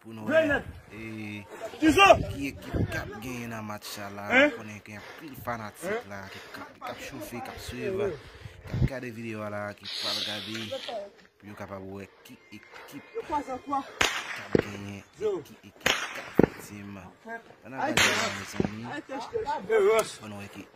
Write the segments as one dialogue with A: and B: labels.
A: Pou nou wè ki ekip kap genyen nan match sa la, mwen konnen gen anpil fanatik la ki kap choufe, kap swiv, kap gade videyo a la, ki pral gade pou yo kapab wè ki ekip kap genyen, ki ekip kap viktim. An nou gade videyo a mezanmi, an nou wè ki ekip.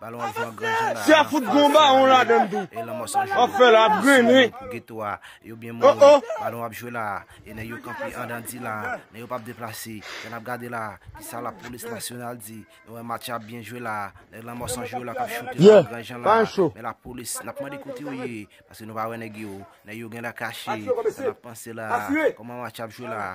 B: Balon ap jwe an gran jan la. Sa fout gon bawon ladann tou. E lanmò san jou. Ap fè la ap grennen. Pou geto a. Yo byen moun. Oh oh. Balon ap jwe
A: la. E nèg yo kanpe andan di la. Nèg yo pap deplase. Sa nap gade la. Kisa la polis nasyonal di. Nou wè match ap byen jwe la. Nèg lanmò san jou yo la kap choute la an gran jan la. Men la polis nap mande kote yo ye. Paske nou pa wè nèg yo. Nèg yo genlè kache. Sa nap panse la. Koman match ap jwe la.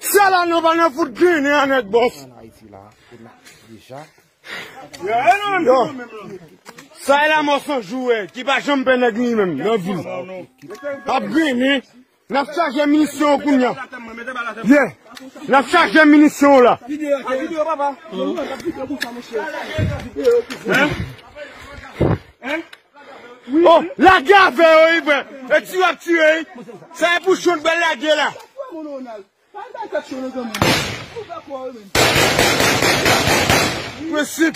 B: Sè la nou pa nan fout ginen an nèt bòs. Sè la mò san jouwè ki pa jom pè nèk ni menm nan vil. Ap ginen, nan chaje minisyon ou kounyan. Ye, nan chaje minisyon ou la. Oh lage avè yo wi frè e tiyo ap tire wi sa e pou show n pral lage la. Prensip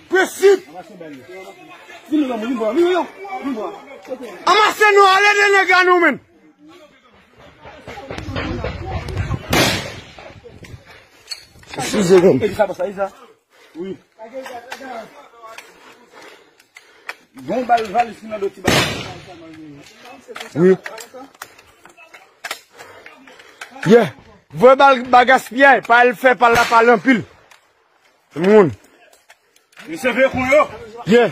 B: Prensip Anmase nou ale de nèg la nou menn.
C: Wi. Bon bal valis nan do ti bal.
B: Wi. Yeah. Vwe bal bagas piyay. Pa el fe pal la pal anpil. Moun. Misye
C: vle kon yo. Yeah.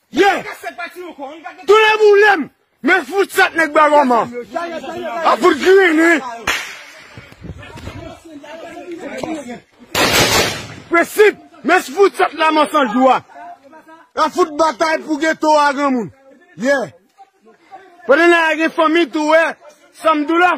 B: Yeah! Tonnè boulem! Men fout sat nèg bwa roma. A fout grini. Prensip! Men fout sat la man san jou a. A fout batay pou geto a granmoun. Yeah! Pandan la gen fanmi tou we, sam dou la.